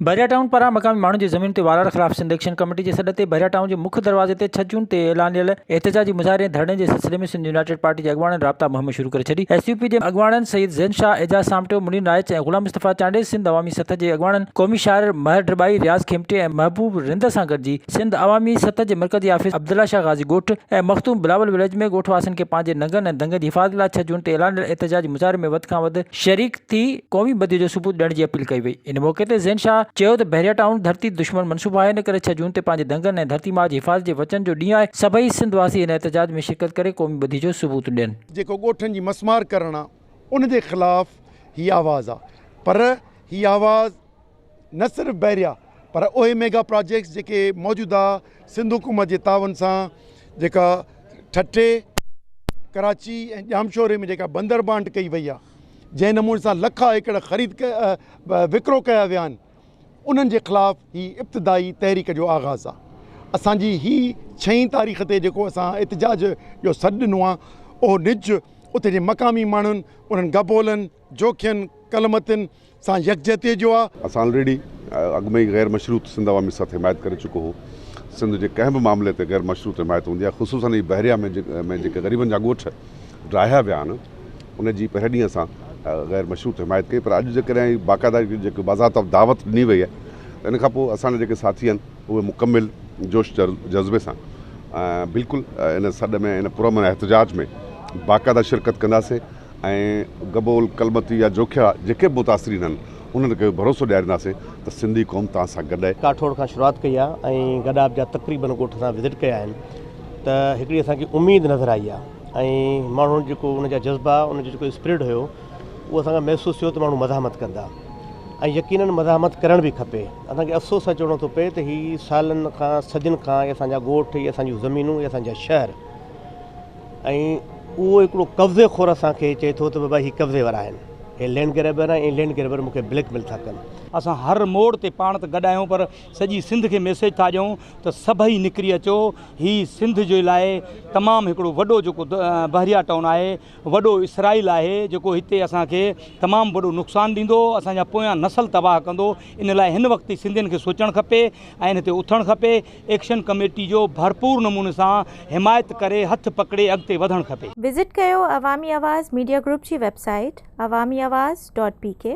Bahria town پاران مقامي ماڻهن جي زمين تي وارار خلاف سنڌ ايڪشن ڪميٽي جي سڏ تي بحريا ٽائون جي مک دروازي تي ڇهه جون تي اعلانيل احتجاجي مظاهري ۽ ڌرڻي جي سلسلي ۾ سنڌ يونائيٽيڊ پارٽي جي اڳواڻن رابطا مهم شروع ڪري ڇڏي ايس يو پي جي اڳواڻن سيد زين شاهه اعجاز سامٽيو منير نائچ ۽ غلام مصطفيٰ چانڊيي سنڌ عوامي سٿ جي اڳواڻن قومي شاعر مهر ڊٻائي رياض کيمٽي ۽ محبوب رند سان گڏجي سنڌ عوامي سٿ جي مرڪزي آفيس عبدالله شاهه غازي ڳوٺ ۽ مخدوم بلاول وليج ۾ ڳوٺ واسين کي پنهنجي ننگن ۽ دنگن جي حفاظت لاء ڇهه جون تي اعلانيل احتجاجي مظاهري ۾ وڌ کان وڌ شريڪ ٿي قومي بدي جو ثبوت ڏيڻ جي اپيل ڪئي وئي. ان موقعي تي زين شاهه چيو ته بحريه ٽائون ڌرتي دشمن منصوبو آهي ان ڪري ڇهه جون تي پنهنجي دنگن ۽ ڌرتي ماء جي حفاظت جي وچن جو ڏينهن آهي سڀئي سنڌ واسي هن احتجاج ۾ شرڪت ڪري قومي بدي جو ثبوت ڏين. جيڪو ڳوٺن جي مسمار ڪرڻ آ ان جي خلاف هي آواز آ پر هي آواز نه صرف بحريا پر اهي ميگا پراجيڪٽس جيڪي موجوده سنڌ حڪومت جي تعاون سان جيڪا ٺٽي ڪراچي ۽ ڄامشوري ۾ جيڪا بندر بانٽ ڪئي وئي آهي جنهن نموني سان لکا ايڪڙ خريد وڪرو ڪيا ويا آهن انهن جي خلاف هي ابتدائي تحريڪ جو آغاز آهي اسان جي هي ڇهين تاريخ تي جيڪو اسان احتجاج جو سڏ ڏنو آهي اهو نج اتي جي مقامي ماڻهن انهن گبولن جو کين ڪل متين سان يڪجهتيء جو آ. اسان آلريڊي اڳ ۾ ئي غير مشروط سنڌ عوامي سٿ حمايت ڪري چڪو هو. سنڌ جي ڪنهن به معاملي تي غير مشروط حمايت هوندي آهي خصوصن هي بحريه ۾ جيڪي غريبن جا ڳوٺ ڊاهيا ويا آهن ان جي پهرين ڏينهن اسان غير مشروط حمايت ڪئي پر اڄ جيڪڏهن هي باقاعده جيڪي باضابطه دعوت ڏني وئي آهي ته ان کان پوء اسان جا جيڪي ساٿي آهن اهي مڪمل جوش جذبي سان بلڪل ان سڏ ۾ ان پرامن احتجاج ۾ باقاعده شرڪت ڪنداسين. ۽ گبول، ڪلمتي يا جوکيا جيڪي به متاثرين آهن انهن کي به ڀروسو ڏيارينداسين ته سنڌي قوم توهان سان گڏ آهي. ڪاٺوڙ کان شروعات ڪئي آهي ۽ گڏاپ جا تقريبن ڳوٺ اسان وزٽ ڪيا آهن ته هڪڙي اسان کي اميد نظر آئي آهي ۽ ماڻهن جيڪو ان جا جذبا ان جو جيڪو اسپرٽ هيو اهو اسان کي محسوس ٿيو ته ماڻهو مزاحمت ڪندا ۽ يقينن مزاحمت ڪرڻ به کپي اسان کي افسوس سان چوڻو ٿو پئي ته هي سالن کان صدين کان هي اسان جا ڳوٺ هي اسان جون زمينون هي اسان جا شهر ۽ اهو هڪڙو قبضي خور اسان کي چئي ٿو ته بابا هي قبضي وارا آهن، هي لينڊ گريبر آهن ۽ لينڊ گريبر مون کي بليڪ ميل ٿا ڪن. اسان هر موڙ تي پاڻ ته گڏ آهيون پر سڄي سنڌ کي ميسيج ٿا ڏيون ته سڀئي نڪري اچو، هي سنڌ جي لاء تمام هڪڙو وڏو جيڪو بحريا ٽائون آهي، وڏو اسرائيل آهي جيڪو هتي اسان کي تمام وڏو نقصان ڏيندو، اسان جا پويان نسل تباهه ڪندو، ان لاء هن وقت ئي سنڌين کي سوچڻ کپي ۽ ان تي اٿڻ کپي، ايڪشن ڪميٽي جو ڀرپور نموني سان حمايت ڪري هٿ پڪڙي اڳتي وڌڻ کپي. وزٽ ڪيو عوامي آواز ميڊيا گروپ جي website Awami Awaz dot P ڪي.